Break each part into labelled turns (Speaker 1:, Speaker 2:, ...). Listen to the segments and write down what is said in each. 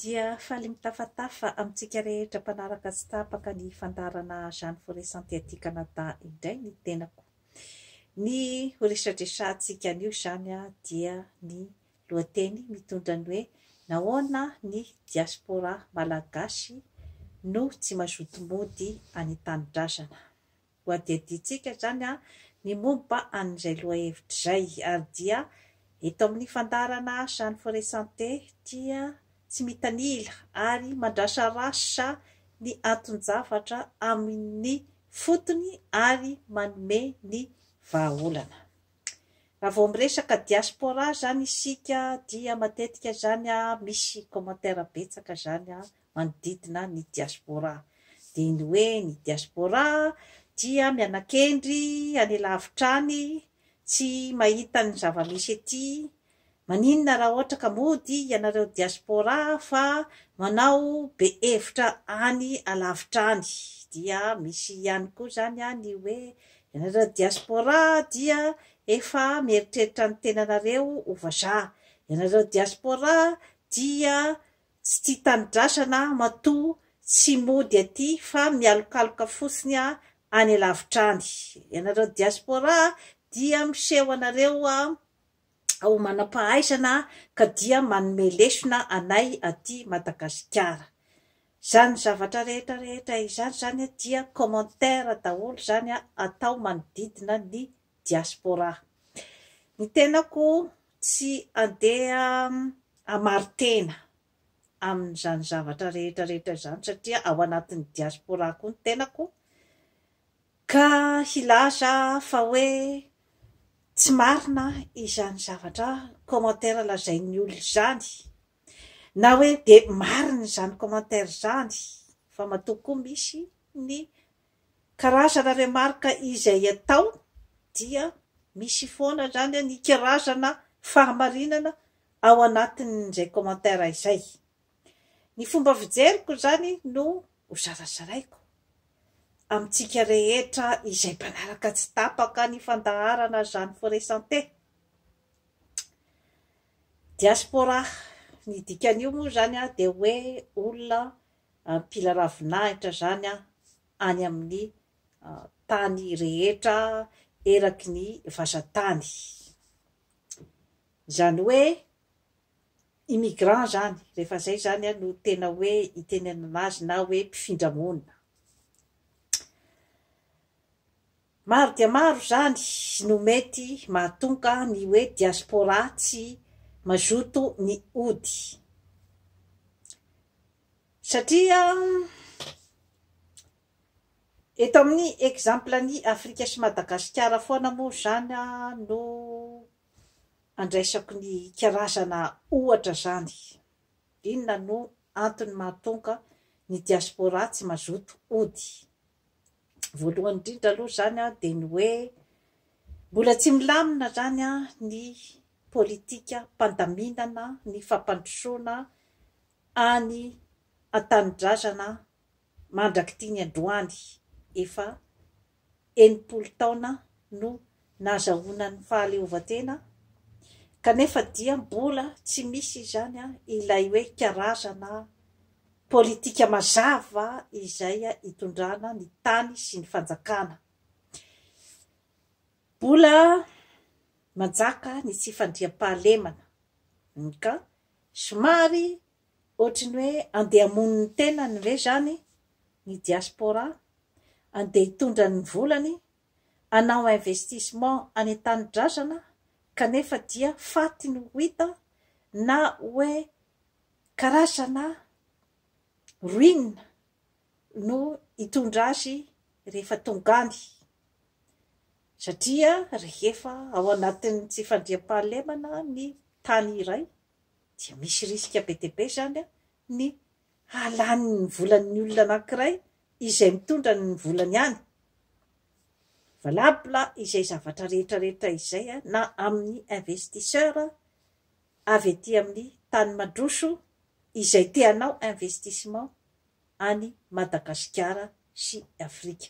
Speaker 1: Dia faly mitafatafa amintsika rehetra mpanaraka tsy tapaka ny fandaharana Jane Foresanty aty Canada indray ny tenako. Ny ho resadresantsika anio izany dia ny lohateny mitondra ny hoe Nahoana ny Diaspora Malagasy no tsy mazoto mody any Tanindrazana. Ho adihadiantsika izany ny momba an'izay lohahevitra izay, ary dia eto amin'ny fandaharana Jeanne Foret-Santé dia tsy mitanila ary mandrasarasa ny anton-javatra amin'ny fotony ary manome ny vahaolana. Raha vao miresaka diaspora izany isika dia matetika izany misy commentaire betsaka izany manodidina ny diaspora. Dia ny hoe ny diaspora dia mianakendry any lavitra any, tsy mahita ny zava-misy ety, maninona raha ohatra ka mody ianareo diaspora fa manao be hevitra any alavitra any. Dia misy ihany koa izany ny hoe ianareo diaspora dia efa mieritreritra ny tenanareo ho vazaha, ianareo diaspora dia Tsy tia tanidrasana aho matoa tsy mody aty fa mialokaloka fotsiny aho any lavitra any. Ianareo diaspora dia miseho anareo ho manam-pahaizana ka dia manome lesona anay aty Madagasikara. Izany zavatra rehetra rehetra izany izany dia commentaire daholo izany atao manodidina ny diaspora. Ny tenako tsy andeha hamaritena amin'izany zavatra rehetra rehetra izany satria ao anatin'ny diaspora koa ny tenako ka hilaza fa hoe tsy marina izany zavatra commentaire lazain'ny olona izany na hoe dia marina izany commentaire izany fa matoa koa misy ny Karazana remarque izay atao dia misy foana izany ny karazana fahamarinana ao anatin'izay commentaire izay. Ny fomba fijeriko izany no ho zarazaraiko amintsika rehetra izay mpanaraka tsy tapaka ny fandaharana Jeanne Forêt Santé. Diaspora, ny dikan'io moa izany dia hoe olona mpila ravinahitra izany aho any amin'ny tany rehetra eraky ny vazan-tany. Izany hoe immigrant izany, rehefa izay izany no tena hoe itenenana azy na hoe mpifindra monina. Maro dia maro izany no mety mahatonga ny hoe diaspora tsy mazoto ny hody. Satria eto amin'ny exemple an'i Afrika sy Madagasikara foana moa izany no andraisako ny karazana ohatra izany. Inona no antony mahatonga ny diaspora tsy mazoto hody? Voalohany indrindra aloha izany dia ny hoe mbola tsy milamina izany ny politikam-pandaminana ny fampandrosoana any an-tanindrazana mandrak'ity ny androany. Efa enimpolo taona no nazahoana ny fahaleovantena kanefa dia mbola tsy misy izany ilay hoe karazana politika mazava izay itondrana ny tany sy ny fanjakana. Mbola manjaka ny tsy fandriampahalemana ka somary ohatry ny hoe andeha hamono ny tenany ve izany ny diaspora, andeha hitondra ny volany hanao investissement any an-tanindrazana kanefa dia faty no ho hita na hoe karazana ruine no hitondra azy rehefa tonga any satria rehefa ao anatin'ny tsy fandriampahalemana ny tany iray dia misy risque be dia be izany ny hahalany ny volan'ny olona anankiray izay mitondra ny volany any valable izay zavatra rehetra rehetra izay na amin'ny investisseur avy ety amin'ny tany mandroso izay te hanao investissement any Madagasikara sy Afrika.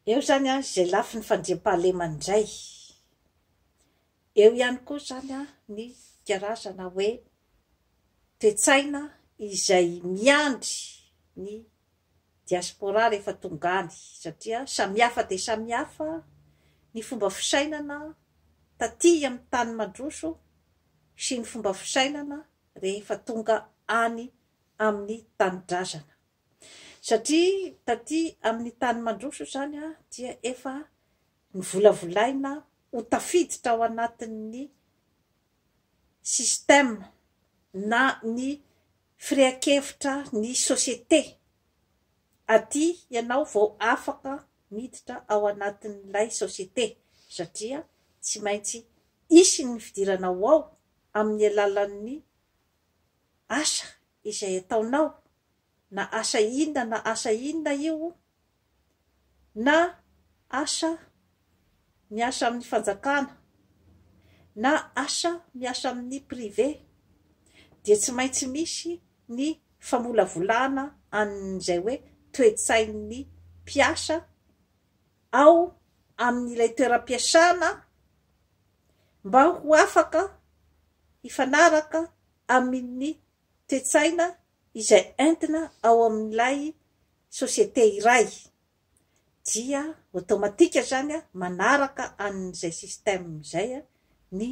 Speaker 1: Eo izany izay lafiny fandriampahalemana indray. Eo ihany koa izany ny karazana hoe toe-tsaina izay miandry ny diaspora rehefa tonga any satria samihafa dia samihafa ny fomba fisainana taty amin'ny tany mandroso sy ny fomba fisainana rehefa tonga any amin'ny tanindrazana satria taty amin'ny tany mandroso izany dia efa Novolavolaina ho tafiditra ao anatin'ny système na ny firehan-kevitra ny société aty ianao vao afaka miditra ao anatin'ilay société satria tsy maintsy hisy ny fidirana ho ao amin'ny alalan'ny asa izay ataonao na asa inona na asa inona io, na asa miasa amin'ny fanjakana, na asa miasa amin'ny privé, dia tsy maintsy misy ny famolavolana an'izay hoe toe-tsain'ny mpiasa ao amin'ilay toeram-piasana mba ho afaka hifanaraka amin'ny toe-tsaina izay entina ao amin'ilay société iray dia automatique izany manaraka an'izay système izay ny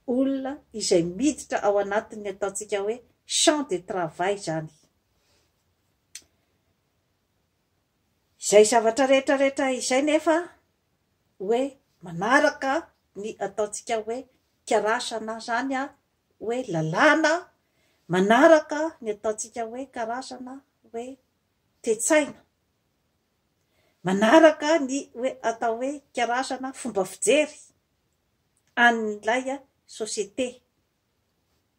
Speaker 1: olona izay miditra ao anatin'ny ataontsika hoe champ de travail izany. Izay zavatra rehetra rehetra izay nefa hoe manaraka ny ataontsika hoe karaza na izany hoe lalàna manaraka ny ataontsika hoe karazana hoe toe-tsaina, manaraka ny hoe atao hoe karazana fomba fijery an'ilay société,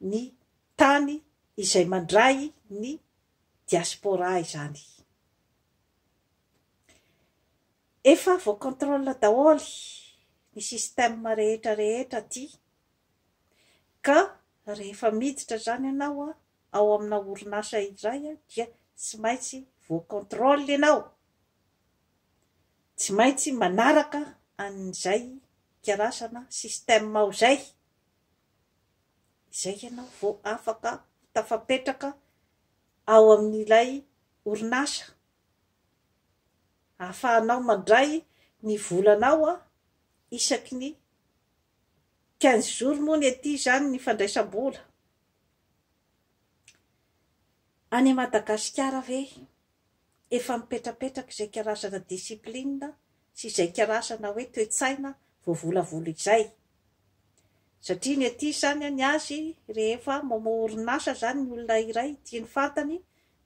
Speaker 1: ny tany izay mandray ny diaspora izany. Efa voacontrôle daholo ny système rehetra rehetra aty Ka rehefa miditra izany ianao ao amina orinasa iray dia tsy maintsy voa contrôle ianao, tsy maintsy manaraka an'izay karazana système ao izay, izay ianao vao afaka tafapetraka ao amin'ilay orinasa, ahafahanao mandray ny volanao isaky ny Quinze jours moa ny aty izany ny fandraisam-bola. Any Madagasikara ve efa mipetrapetraka izay karazana discipline sy izay karazana hoe toe-tsaina voavolavola izay? Satria ny aty izany ny azy rehefa mamoha orinasa izany ny olona iray ity ny fantany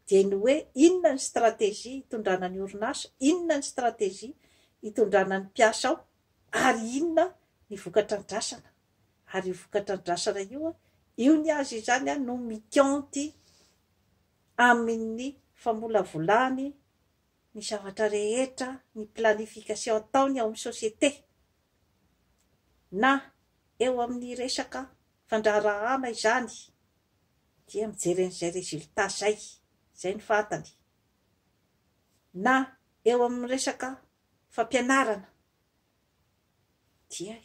Speaker 1: dia ny hoe inona ny stratégie hitondrana ny orinasa, inona ny stratégie hitondrana ny mpiasa ao, Ary inona ny vokatrandrasana? Ary io vokatrandrasana io, io ny azy izany no mikianty amin'ny famolavolany ny zavatra rehetra, ny planification ataony ao amin'ny société, na eo amin'ny resaka fandraharahana izany, dia mijery an'izay résultat izay, izay no fantany, na eo amin'ny resaka fampianarana dia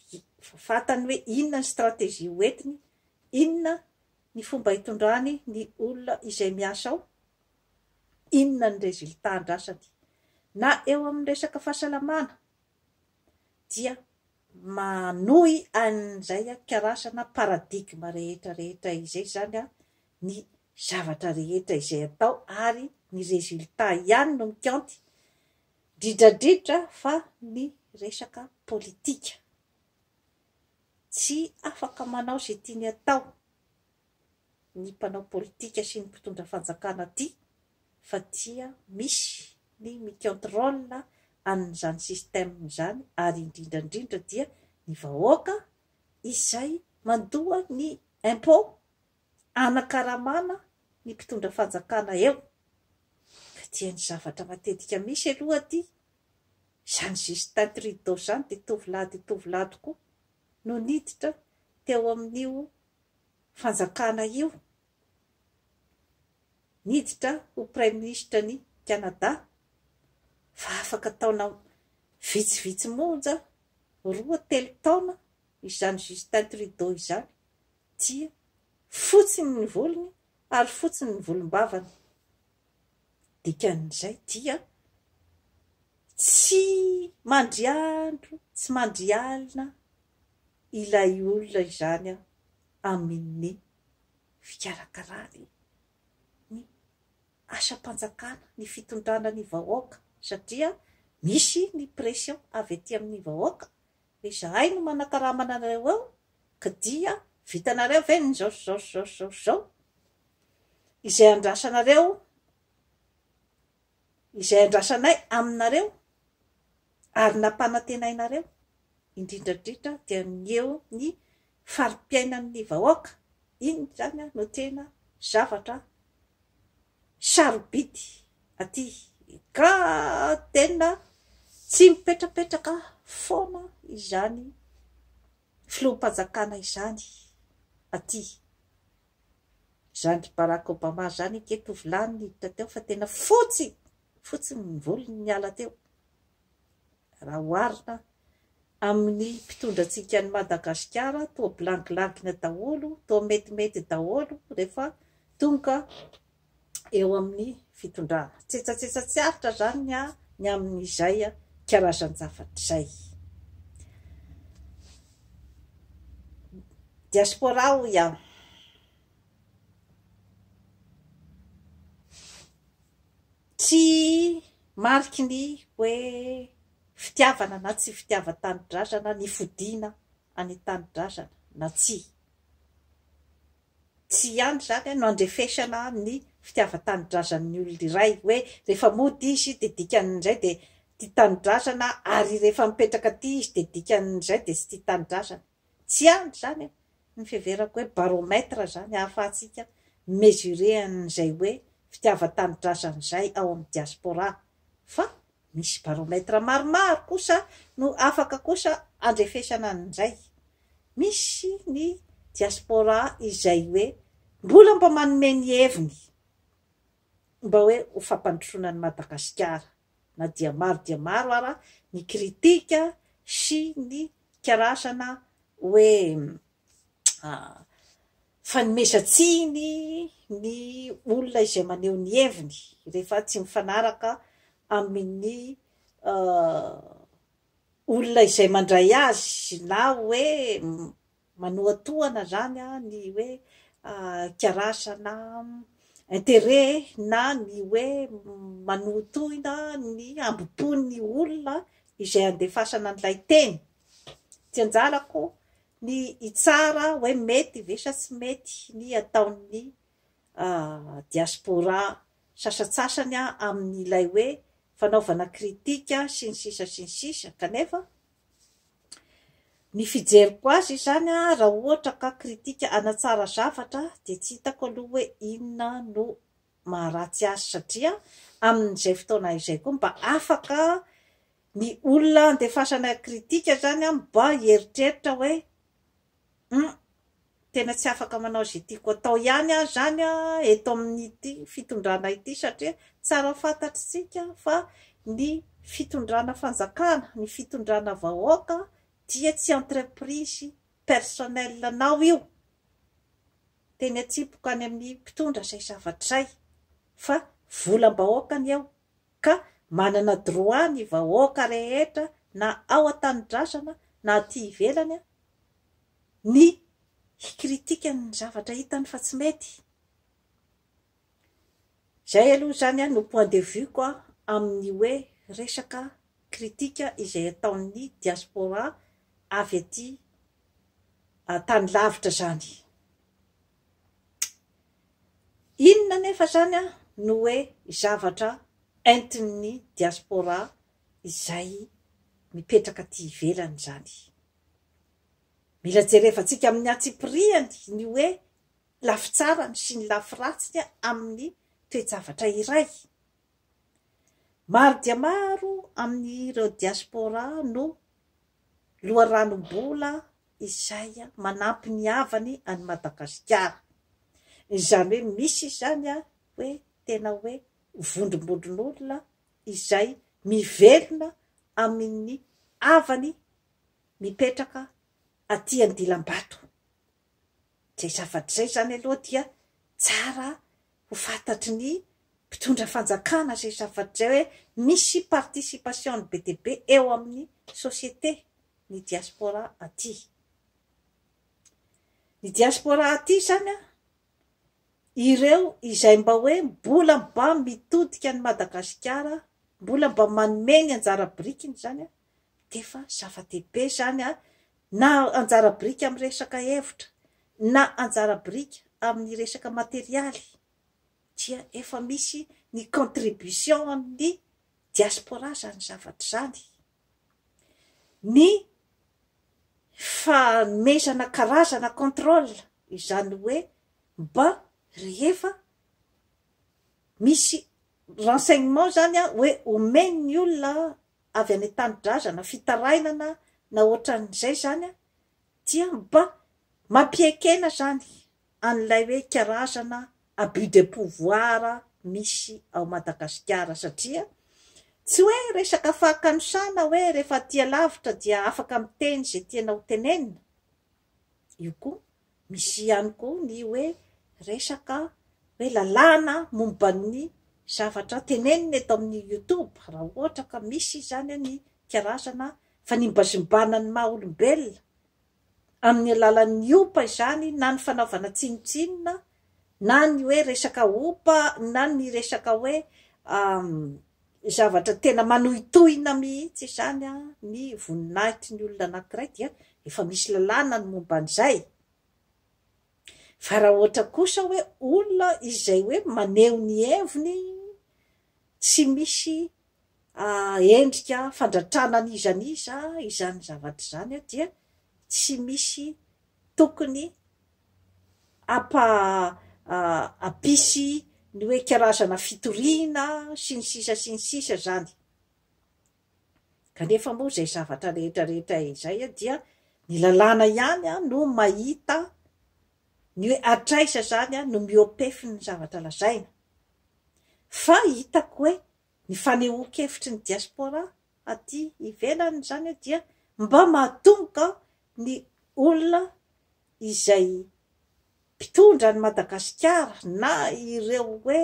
Speaker 1: fantany hoe inona ny stratégie hoentiny, inona ny fomba hitondrany ny olona izay miasa ao, inona ny résultat andrasany. Na eo amin'ny resaka fahasalamana dia manohy an'izay karasana paradigme rehetra rehetra izay izany ny zavatra rehetra izay atao ary ny résultat ihany no mikaonty Dridradridra fa ny resaka politika. Tsy afaka manao izay tiany atao ny mpanao politika sy ny mpitondra fanjakana aty fa dia misy ny mi-contrôle an'izany système izany ary indrindra indrindra dia ny vahoaka izay mandoa ny impôt Hanakaramana ny mpitondra fanjakana eo. Dia ny zavatra matetika misy aloha aty, izany Justin Trudeau izany dia tovolahy dia tovolahy tokoa no niditra teo amin'io fanjakana io, niditra ho praiminisitra ny Canada fa afaka taona vitsivitsy monja, roa, telo taona izany Justin Trudeau izany dia fotsy ny volony ary fotsy ny volombavany. Dikan'izay dia tsy mandry andro, tsy mandry alina ilay olona izany amin'ny fikarakarany ny asam-panjakana, ny fitondrana ny vahoaka satria misy ny pression avy aty amin'ny vahoaka Dia izahay no manakarama anareo eo ka dia vitanareo ve ny izao sy izao sy izao sy izao sy izao? Izay andrasanareo, izay andrasanay aminareo ary nampanantenainareo, indrindra indrindra dia ny eo ny fari-piainan'ny vahoaka, iny izany no tena zavatra sarobidy aty ka tena tsy mipetrapetraka foana izany filoham-panjakana izany aty izany ry Barack Obama izany ange tovolahy no niditra teo fa tena fotsy fotsy ny volony niala teo Raha oharina amin'ny mpitondra antsika any Madagasikara toa bilangilangina daholo, toa metimety daholo rehefa tonga eo amin'ny fitondrana. Tsetsatsetsa tsy aritra izany ny ahy ny amin'izay karazan-javatra izay. Diaspora hoy aho. Tsy mariky ny hoe fitiavana na tsy fitiavan-tanindrazana ny fodiana any tanindrazana na tsia. Tsy ihany izany no andrefesana ny fitiavan-tanindrazan'ny olona iray hoe rehefa mody izy dia dikan'izay dia tia tanindrazana ary rehefa mipetraka aty izy dia dikan'izay dia tsy tia tanindrazana. Tsy any izany an, ny fiheverako hoe baromètre izany ahafahantsika mi-mesurer an'izay hoe fitiavan-tanidrasan'izay ao amin'ny diaspora. Fa misy baromètre maromaro kosa no afaka kosa andrefesana an'izay. Misy ny diaspora izay hoe mbola mba manome ny heviny mba hoe ho fampandrosoana an'i Madagasikara. na dia maro dia maro ara ny kritika sy ny karasana hoe fanomezan-tsiny ny olona izay maneho ny heviny rehefa tsy mifanaraka amin'ny olona izay mandray azy na hoe Manohatohana zany ny hoe kiarasa na interet na ny hoe manohitohina ny hambopon'ny olona izay andefasana an'ilay teny. Tsy anjarako ny hitsara hoe mety ve sa tsy mety ny ataon'ny diaspora sasatsasany amin'ilay hoe fanaovana kritika sy ny sisa sy ny sisa kanefa Ny fijeriko azy izany raha ohatra ka kritika hanatsara zavatra dia tsy hitako aloha hoe inona no maharatsy azy satria amin'izay fotoana izay koa mba afaka ny olona handefasanay kritika izany mba hieritreritra hoe Hum tena tsy afaka manao izay tiako atao ihany aho izany eto amin'ity fitondrana ity satria tsara fantatr'tsika fa ny fitondrana fanjakana, ny fitondrana vahoaka dia tsy entreprise personnel anao io, teny atsimpoko any amin'ny mpitondra izay zavatra izay fa volam-bahoaka ny eo, Ka manana droit ny vahoaka rehetra na ao an-tanidrasana na aty ivelany ny hi-critique ny zavatra hitany fa tsy mety. Izay aloha izany no point de vue-ko amin'ny hoe resaka critique izay ataon'ny diaspora avy aty tany lavitra izany. Inona anefa izany no hoe zavatra entin'ny diaspora izay mipetraka aty ivelany izany? Mila jerevantsika amin'ny antsipirihany ny hoe lafy tsarany sy ny lafy ratsiny amin'ny toe-javatra iray. Maro dia maro amin'ireo diaspora no loharanom-bola izay manampy ny havany any Madagasikara. Izany hoe misy izany hoe tena hoe vondrombondron'olona izay mivelona amin'ny havany mipetraka aty Andilambato. Izay zavatra izay izany aloha dia tsara ho fantatry ny mpitondra fanjakana izay zava-dry izay hoe misy participation-ny be dia be eo amin'ny société ny diaspora aty. Ny diaspora aty izany an, ireo izay mba hoe mbola mba mitodika an'i Madagasikara, mbola mba manome ny anjara birikiny izany an, dia efa zava-dehibe izany ary na anjara biriky amin'ny resaka hevitra na anjara biriky amin'ny resaka materialy dia efa misy ny contribution an'ny diaspora izany zavatra izany. Ny fanomezana karazana contrôle izany hoe mba rehefa misy renseignement izany hoe omen'ny olona avy any an-tanidrazana, fitarainana na ohatran'izay izany an, dia mba mampiekena izany an'ilay hoe karazana abus de pouvoir misy ao Madagasikara satria tsy hoe resaka fahakanosana hoe rehefa aty alavitra dia afaka miteny izay tiana hotenenina, io koa Misy ihany koa ny hoe resaka hoe lalàna momba ny zavatra tenenina eto amin'ny youtube, raha ohatra ka misy izany ny karazana fanimbazimbana ny maha olombelona amin'ny alalan'ny opa izany na ny fanaovana tsinontsinona na ny hoe resaka opa na ny resaka hoe Zavatra tena manohitohina mihitsy izany ny voninahitry ny olona anankiray dia efa misy lalàna ny momba an'izay fa raha ohatra kosa hoe olona izay hoe maneho ny heviny tsy misy endrika fandratrana an'iza n'iza izany zavatra izany dia tsy misy tokony hampisy ny hoe karazana fitoriana sy ny sisa sy ny sisa izany kanefa moa izay zavatra rehetra rehetra izay dia ny lalàna ihany no mahita ny hoe hatraiza izany no mihoa-pefy ny zavatra lazaina fa hitako hoe ny fanehoan-kevitry ny diaspora aty ivelany izany dia mba mahatonga ny olona izay mpitondra an'i Madagasikara na ireo hoe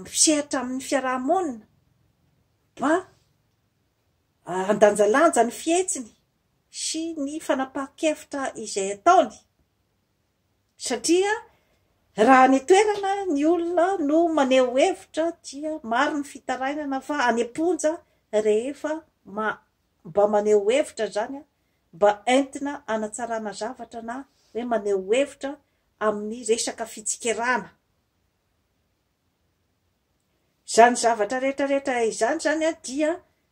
Speaker 1: misehatra amin'ny fiaraha-monina mba handanjalanja ny fihetsiny sy ny fanapahan-kevitra izay ataony satria raha any an-toerana ny olona no maneho hevitra dia maro ny fitarainana fa any am-ponja rehefa mba maneho hevitra izany mba entina hanatsarana zavatra na hoe maneho hevitra amin'ny resaka fitsikerana. Izany zavatra rehetra rehetra izany izany dia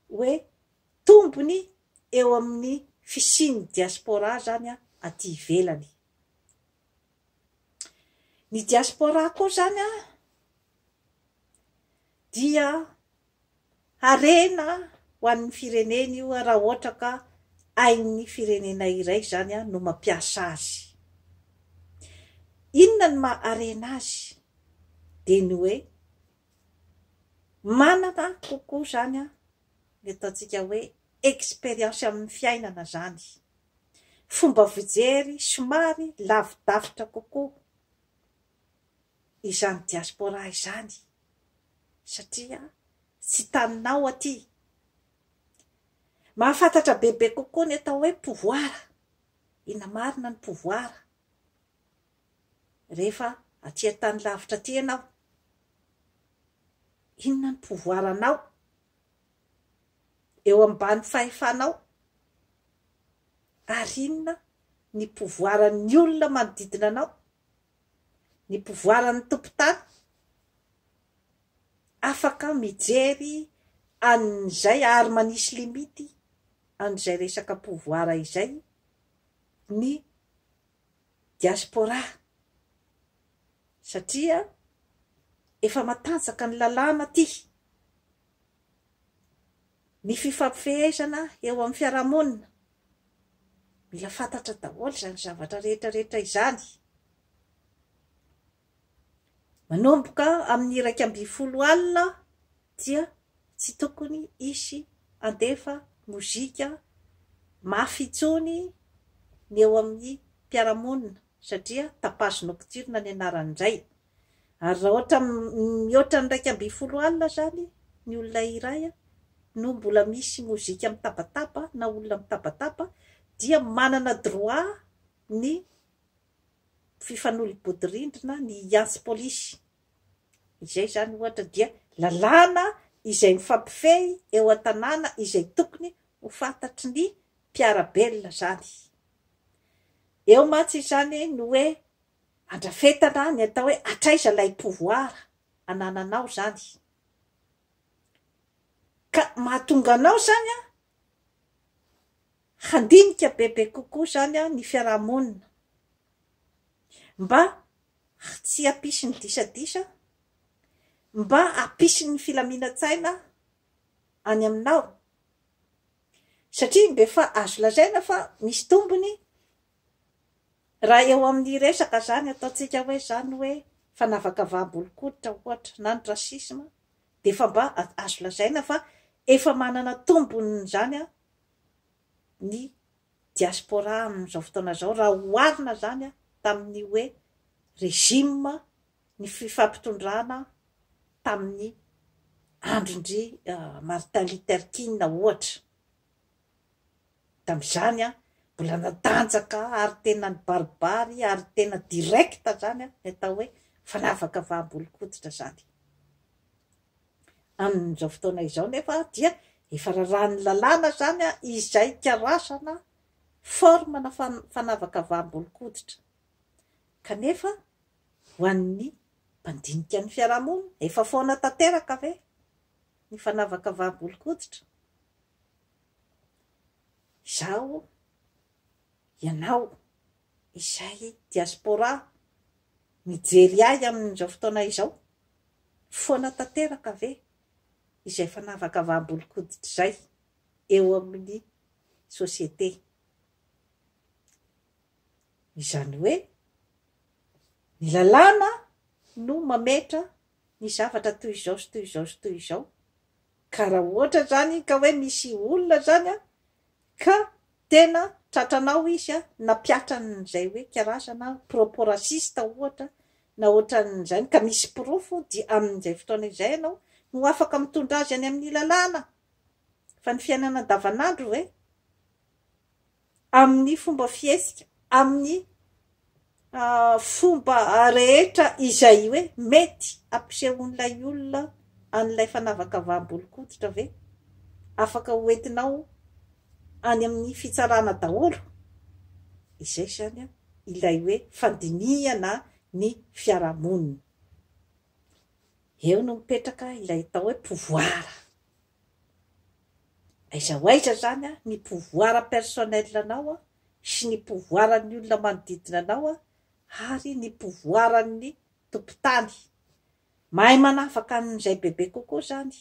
Speaker 1: hoe tombony eo amin'ny fisian'ny diaspora izany aty ivelany. Ny diaspora koa izany dia Harena ho an'ny firenena io raha ohatra ka ain'ny firenena iray izany no mampiasa azy. Inona ny maha harena azy? Dia ny hoe manana kokoa izany ny ataontsika hoe expérience amin'ny fiainana izany, fomba fijery somary lavidavitra kokoa. izany diaspora izany satria tsy taninao aty. Mahafantatra bebe kokoa ny atao hoe pouvoir, inona marina ny pouvoir rehefa aty an-tany lavitra aty ianao. Inona ny pouvoir anao eo ambany fahefanao ary inona ny pouvoir ny olona manodidina anao ny mpivoaran'ny tompon-tany afaka mijery an'izay ary manisy limity an'izay resaka pouvoir izay ny diaspora satria efa matanjaka ny lalàna aty. Ny fifampifehezana eo amin'ny fiarahamonina, mila fantatra daholo izany zavatra rehetra rehetra izany. Manomboka amin'ny iraika ambin'ny folo alina dia tsy tokony hisy handefa mozika mafy intsony ny eo amin'ny mpiara-monina satria tapage nocturne ny anarany indray. Ary raha ohatra mihoatra ny iraika ambin'ny folo alina izany ny olona iray no mbola misy mozika mitabataba na olona mitabataba dia manana droit ny fifanolo-bodirindrina ny hiantsy polisy izay izany ohatra dia lalàna izay mifampifehy eo an-tanàna izay tokony ho fantatry ny mpiara-belona izany. Eo mantsy izany no hoe Andrafetana ny atao hoe hatraiza ilay pouvoir anananao izany. Ka mahatonga anao izany handinika bebe kokoa izany ny fiarahamonina. Mba tsy hampisy ny disadisa, mba hampisy ny filaminan-tsaina any aminao. Satria dia efa azo lazaina fa misy tombony Raha eo amin'ny resaka izany ataontsika hoe izany hoe fanavakavaham-bolonkoditra ohatra na ny racisme dia efa mba azo lazaina fa efa manana tombony izany ny diaspora amin'izao fotoana izao raha oharina izany tamin'ny hoe régime ny fifampitondrana tamin'ny andron-dry Martin Luther King ohatra. Tamin'izany aho mbola natanjaka ary tena nibaribary ary tena direct izany aho ny atao hoe fanavakavaham-bolon-koditra izany. Amin'izao fotoana izao nefa dia efa raràn'ny lalàna izany izay hikarazana forme na fanavakavaham-bolon-koditra. Kanefa ho an'ny mpandinika ny fiarahamonina, efa foana tanteraka ve? ny fanavakavaham-bolon-koditra, izaho, ianao, izay diaspora mijery ahy amin'izao fotoana izao, foana tanteraka ve izay fanavakavaham-bolon-koditra izay eo amin'ny société? Izany hoe, ny lalàna no mametra ny zavatra toy izao sy toy izao sy toy izao, ka raha ohatra zany ka hoe misy olona zany ka tena tratranao izy nampiatran'izay hoe karazana propos raciste ohatra na ohatran'izany ka misy porofo dia amin'izay fotoana izay ianao no afaka mitondra azy any amin'ny lalàna, fa ny fiainana andavanandro ve? amin'ny fomba fihetsika, amin'ny fomba rehetra izay hoe mety hampisehoan'ilay olona an'ilay fanavakavaham-bolon-koditra ve? Afaka hoentinao any amin'ny fitsarana daholo izay izany ilay hoe fandinihana ny fiarahamonina. Eo no mipetraka ilay atao hoe pouvoir. Aiza ho aiza izany an, ny pouvoir personnel anao sy ny pouvoir an'ny olona manodidina anao ary ny pouvoir an'ny tompon-tany. Mahay manavaka an'izay bebe kokoa izany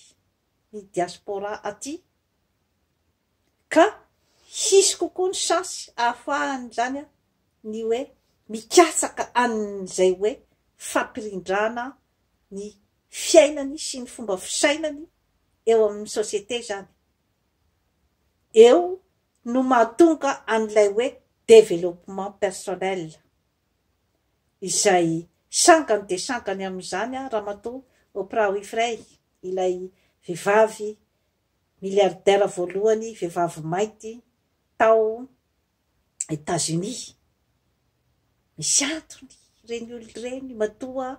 Speaker 1: ny diaspora aty. Ka hisy kokoa ny chance ahafahan'izany ny hoe mikatsaka an'izay hoe fampirindrana ny fiainany sy ny fomba fisainany eo amin'ny société izany. Eo no mahatonga an'ilay hoe développement personnel izay sangany dia sangany amin'izany Ramatoa Oprah Winfrey, ilay vehivavy Miliaridera voalohany vehivavy mainty tao Etazonia. Misy antony ireny olona ireny matoa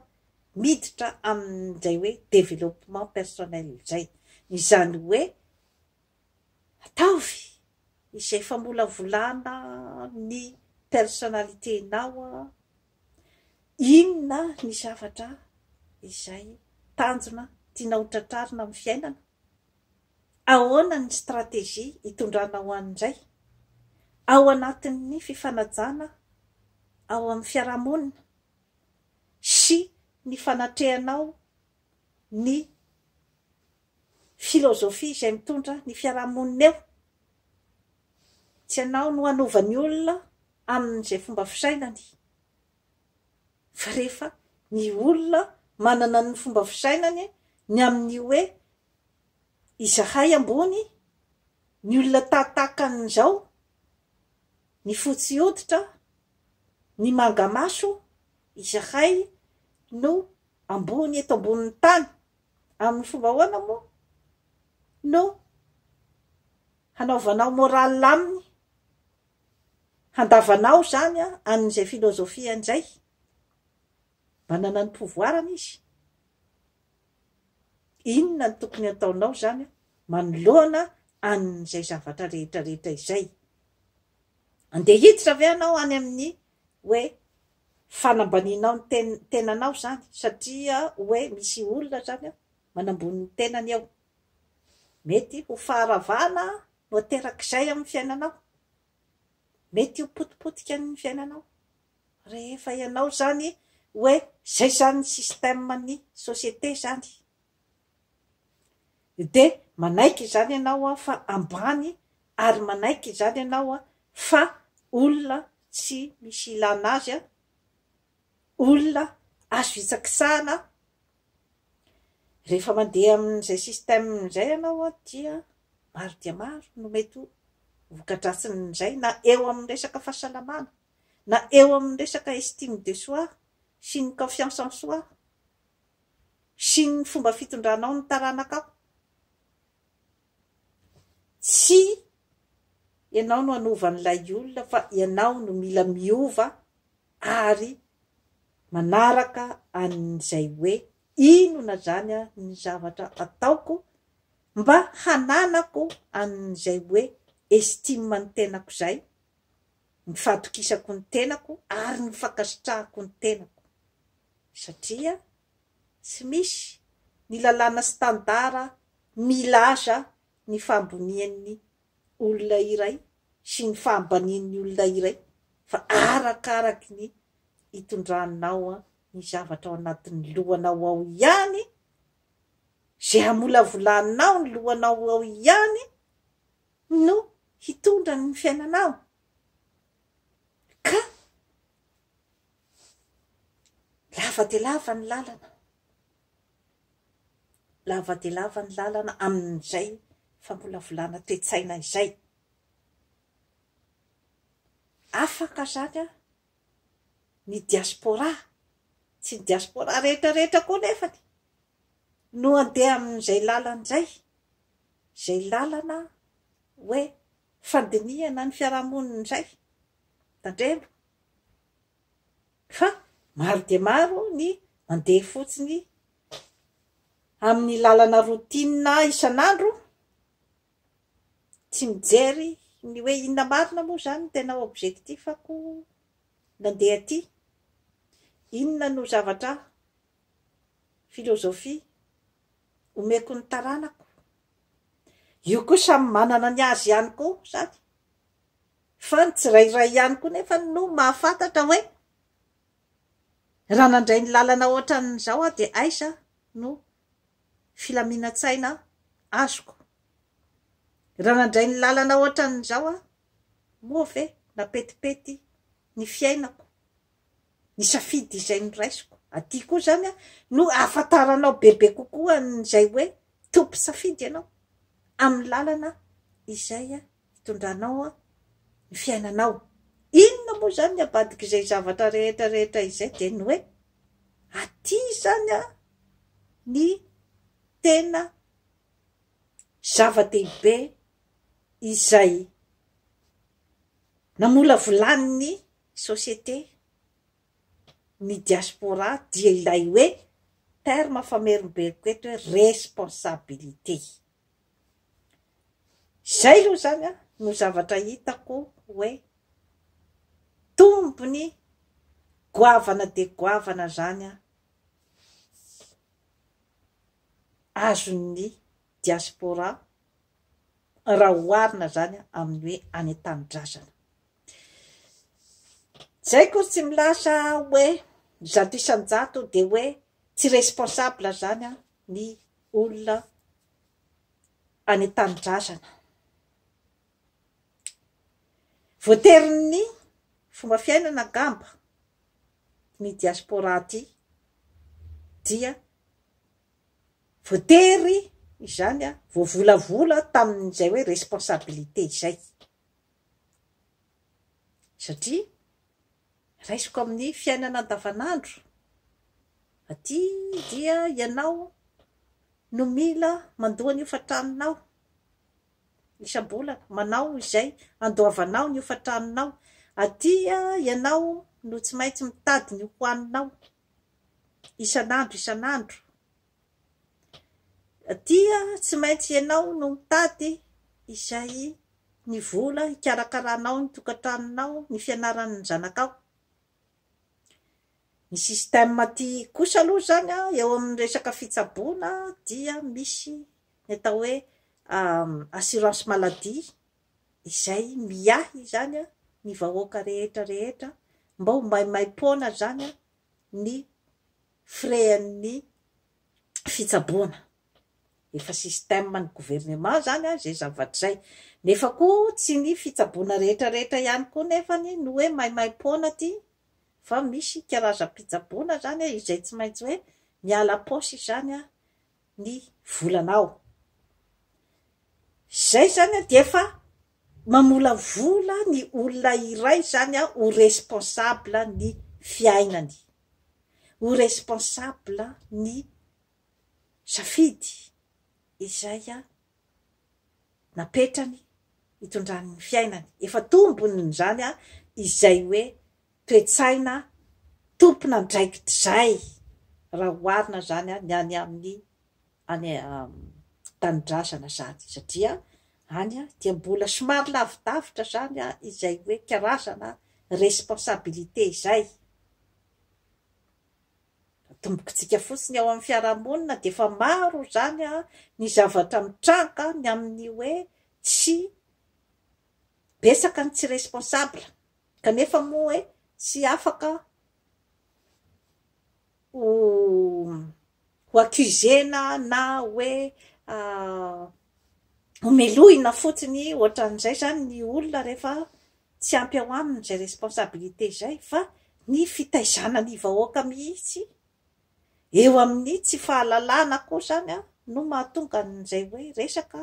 Speaker 1: miditra amin'izay hoe développement personnel izay. Izany hoe ataovy izay famolavolana ny personnalité-nao, inona ny zavatra izay tanjona tianao ho tratrarina amin'ny fiainana, Ahoana ny stratejia itondranao any indray? Ao anatin'ny fifanajana ao amin'ny fiarahamonina sy ny fanatrehanao ny filozofia izay mitondra ny fiarahamonina eo? Tsy ianao no hanova ny olona amin'izay fomba fisainany Fa rehefa ny olona manana ny fomba fisainany ny amin'ny hoe izahay ambony, ny olona tahatahakan'izao, ny fotsy hoditra, ny manga maso, izahay no ambony eto ambonin'ny tany, amin'ny fomba ahoana moa no hanaovanao morale aminy? handavanao izany an'izay philosophie an'izay, manana ny pouvoir-ny izy, inona no tokony hataonao izany manoloana an'izay zavatra rehetra rehetra izay? Andeha hiditra ve ianao any amin'ny hoe fanambanianao ny ten tenanao izany satria hoe misy olona izany manambony ny tenany eo? Mety ho faharavana Noaterak'izay amin'ny fiainanao. Mety ho potipotika ny fiainanao. Rehefa ianao izany hoe izay izany ny système ny société izany. Dia manaiky izany ianao fa ambany ary manaiky izany ianao fa olona tsy misy ilana azy, olona azo hitsakisahana. Rehefa mandeha amin'izay système izay ianao dia maro dia maro no mety ho voka-dratsin'izay na eo amin'ny resaka fahasalamana, na eo amin'ny resaka estime de soi sy ny confiance en soi sy ny fomba fitondranao ny taranakao. Tsy ianao no hanova an'ilay olona fa ianao no mila miova ary manaraka an'izay hoe inona izany ny zavatra ataoko mba hananako an'izay hoe estime ny tenako izay, ny fahatokisako ny tenako ary ny fankasitrahako ny tenako. Satria tsy misy ny lalàna standard milaza ny fahambonian'ny olona iray sy ny fahabanin'ny olona iray fa arakaraky ny itondranao ny zavatra ao anatin'ny lohanao ao ihany, izay hamolavolanao ny lohanao ao ihany no hitondra ny fiainanao ka lava dia lava ny lalana. Lava dia lava ny lalana amin'izay famolavolana toe-tsaina izay. Afaka izany an, ny diaspora, tsy ny diaspora rehetra rehetra koa nefany no handeha amin'izay lalana izay, izay lalana hoe fandinihana ny fiarahamonina izay. Tandremo. Fa maro dia maro ny mandeha fotsiny amin'ny lalana routine isan'andro, tsy mijery ny hoe inona marina moa izany no tena objectif-ko nandeha aty, inona no zavatra, philosophie, omeko ny taranako. Io koa samy manana ny azy ihany koa izany. Fa ny tsirairay ihany koa nefa no mahafantatra hoe raha nandray ny lalana ohatran'izao aho dia aiza no filaminan-tsaina azoko? Raha nandray ny lalana ohatran'izao aho moa ve napetipety ny fiainako, ny safidy izay noraisiko? Aty koa izany no ahafantaranao bebe kokoa an'izay hoe tompon-tsafidy ianao amin'ny lalana izay hitondranao ny fiainanao. Inona moa izany ny abadik'izay zavatra rehetra rehetra izay dia ny hoe, aty izany ny tena zava-dehibe izay namolavolan'ny société ny diaspora dia ilay hoe, terme famerimberiko eto hoe, responsabilité. Izay aloha izany no zavatra hitako hoe tombony goavana dia goavana izany azon'ny diaspora raha oharina izany amin'ny hoe any an-tanindrazana. Izay akory tsy milaza hoe zato isan-jato dia hoe tsy responsable izany ny olona any an-tanindrazana. Voaterin'ny fomba fiainana angamba ny diaspora aty dia voatery izany voavolavola tamin'izay hoe responsabilité izay satria Raisiko amin'ny fiainana andavanandro, aty dia ianao no mila mandoa ny hofan-tranonao isam-bolana, manao izay handoavanao ny hofan-tranonao, aty ianao no tsy maintsy mitady ny hohaninao isan'andro isan'andro. Dia tsy maintsy ianao no mitady izay ny vola hikarakaranao ny tokantranonao, ny fianaran'ny zanakao. Ny système aty kosa aloha izany an, eo amin'ny resaka fitsaboana dia misy ny atao hoe assurance maladie izay miahy izany an, ny vahoaka rehetra rehetra mba ho maimaim-poana izany an, ny frais ny fitsaboana. Efa système ny gouvernement zany an izay zavatra izay. Nefa koa tsy ny fitsaboana rehetra rehetra ihany koa nefany no hoe maimaimpoana aty fa misy karazam-pitsaboana zany an izay tsy maintsy hoe miala ampaosy izany an ny volanao. Izay zany an dia efa Mamolavola ny olona iray izany aho ho responsable ny fiainany, ho responsable ny safidy izay napetrany hitondrany ny fiainany, efa tombony izany izay hoe toe-tsaina tompon'andraikitrizay raha oharina izany ny any amin'ny any tanindrazana izany satria any dia mbola somary lavidavitra izany izay hoe karazana responsabilité izay. Atombokintsika fotsiny ao amin'ny fiarahamonina dia efa maro izany ny zavatra mitranga ny amin'ny hoe tsy betsaka ny tsy responsable. Kanefa moa e, tsy afaka ho ho accusena na hoe homelohina fotsiny ohatran'izay zany ny olona rehefa tsy ampy ao aminy izay responsabilité izay fa ny fitaizana ny vahoaka mihitsy eo amin'ny tsy fahalalana koa zany no mahatonga an'izay hoe resaka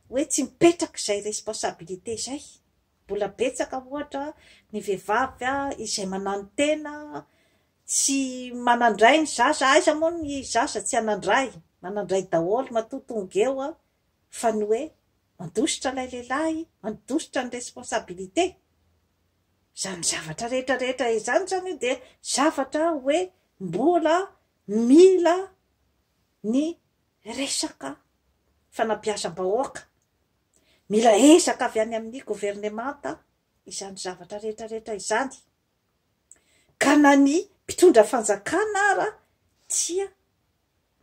Speaker 1: hoe tsy mipetraka izay responsabilité izay. Mbola betsaka ohatra ny vehivavy izay mananontena, tsy manandray ny zaza, aiza moa ny zaza tsy hanandray, manandray daholo matoa tonga eo fa ny hoe mandositra ilay lehilahy, mandositra ny responsabilité. Izany zavatra rehetra rehetra izany izany dia zavatra hoe mbola mila ny resaka fanabeazam-bahoaka Mila ezaka avy any amin'ny governemanta izany zavatra rehetra rehetra izany, ka na ny mpitondra fanjakana ara tsia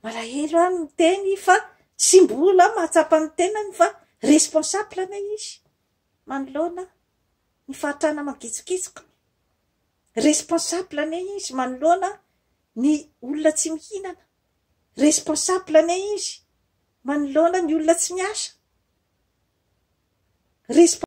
Speaker 1: malahelo any miteny fa tsy mbola mahatsapa ny tenany fa responsable anie izy manoloana ny fahatrana mangitsokitsoka, responsable anie izy manoloana ny olona tsy mihinana. Responsable anie izy manoloana ny olona tsy miasa. Resp.